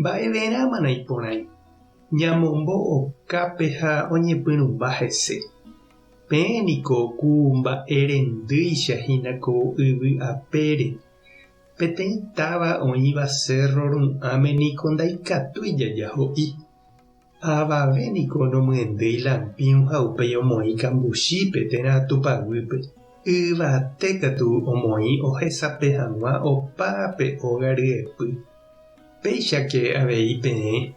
Mba'everãmana iporãi ñamombo okápe ha oñepyrũmba hese? Peẽ niko ku mba'e rendýicha hína ko yvy apére. Peteĩ táva oĩva cérro ru'ãme niko ndaikatúi jaja ho'i. Avave niko nomyendéi lampĩu ha upéi omoĩ kambuchípe térã Tupã guýpe. Yvate katu omoĩ ohesape hag̃ua opa pe óga ryepy. Péichake avei peẽ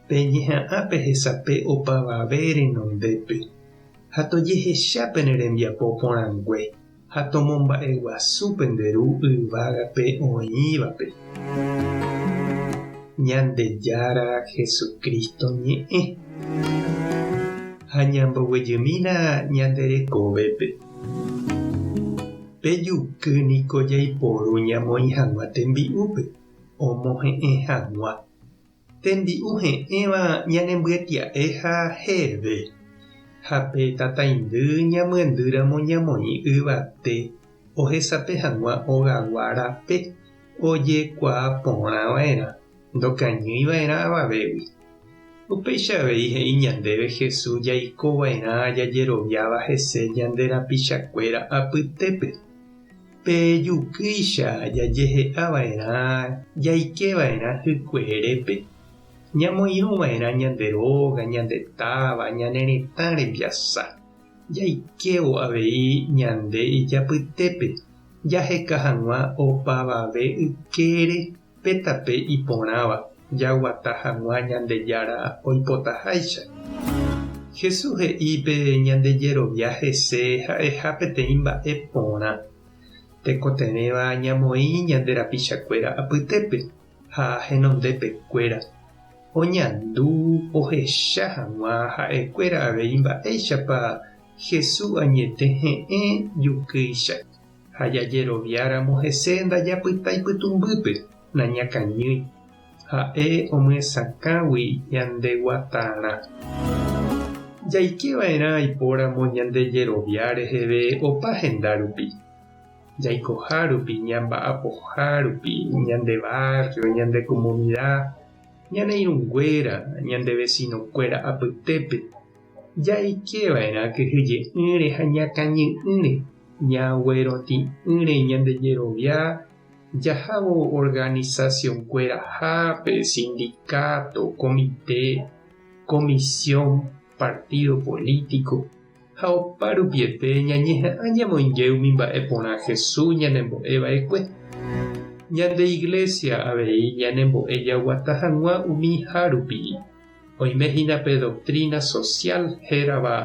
peñeha'ã pehesape opavave renondépe ha tojehecha pene rembiapo porãngue. ha tomomba'eguasu pende Ru yvágape oĩvape, Ñandejára Jesucristo ñe'ẽ, ha ñamboguejymína ñande rekovépe. Pe juky niko jaiporu ñamoĩ hag̃ua tembi'úpe omohe'ẽ hag̃ua Tembi'u he'ẽva ñanembyetya'e ha heve, ha pe tataindy ñamyendýramo ñamoĩ yvate ohesape hag̃ua ogagua rape ojekuaa porã va'erã, ndokañýi va'erã avavégui. Upéicha avei he'i ñandéve Jesús jaiko va'erã jajeroviáva hese ñande rapichakuéra apytépe. Pe jukýicha jajehe'a va'erã jaike va'erã hykueerépe, ñamoirũ va'erã ñande róga, ñande táva, ñane retã rembiasa, jaikévo avei ñande ijapytépe jaheka hag̃ua opavave ykére Pe tape iporãva jaguata hag̃ua Ñandejára oipotaháicha. Jesús he'i pe ñande jerovia hese ha'eha peteĩ mba'e porã. Tekotevẽva ñamoĩ ñande rapichakuéra apytépe ha henondepekuéra, oñandu ohecha hag̃ua ha'ekuéra avei mba'éichapa Jesús añete he'ẽ jukýicha. ha jajeroviáramo hese ndajapyta ipytũmbýpe, nañakañýi. Ha'e omyesakãgui ñande guatarã. Jaike va'erã aipóramo ñande jerovia reheve opa henda rupi, jaikoha rupi, ñamba'apoha rupi, ñande barrio, ñande comunidad, ñane irũnguéra, ñande vecino-kuéra apytépe, Jaike va'erã kyhyje'ỹre ha ñakãñy'ỹre, ñagueroti'ỹre ñande jerovia jahávo organizacionkuerahápe, sindicato, komite, comisión, partido político, ha oparupiete ñañeha'ã ñamoinge umi mba'e porã Jesús ñanembo'e va'ekue. Ñande Iglesia avei ñanembo'e jaguata hag̃ua umi hárupi. Oime hína pe doktrína sosiál hérava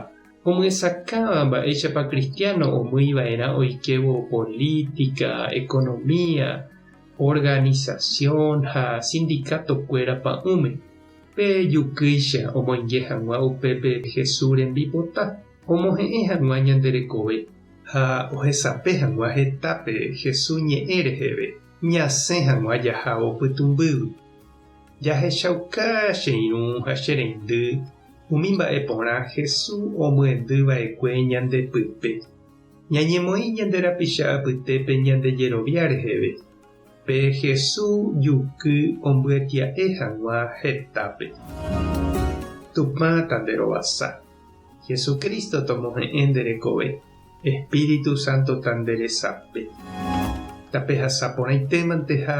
omyesakãva mba'éichapa kristiáno omýi va'erã oikévo polítika, ekonomia, organisasión ha sindikatokuéra pa'ũme. Pe jukýicha omoinge hag̃ua upépe Jesús rembipota omohe'ẽ hag̃ua ñande rekove. Ha ohesape hag̃ua hetápe Jesús ñe'ẽ reheve, ñasẽ hag̃ua jahávo pytũmbýgui. Jahechauka che irũ ha che reindy umi mba'e porã Hesu omyendy vaekue ñande pype. Ñañemoĩ ñande rapicha apytépe ñande jerovia reheve. Pe Hesu juky ombyatia'e hag̃ua hetápe. Tupã tanderovasa. Hesu Cristo tomohe'ẽ nde rekove. Espíritu Santo tanderesape. Tapehasa porãitémante ha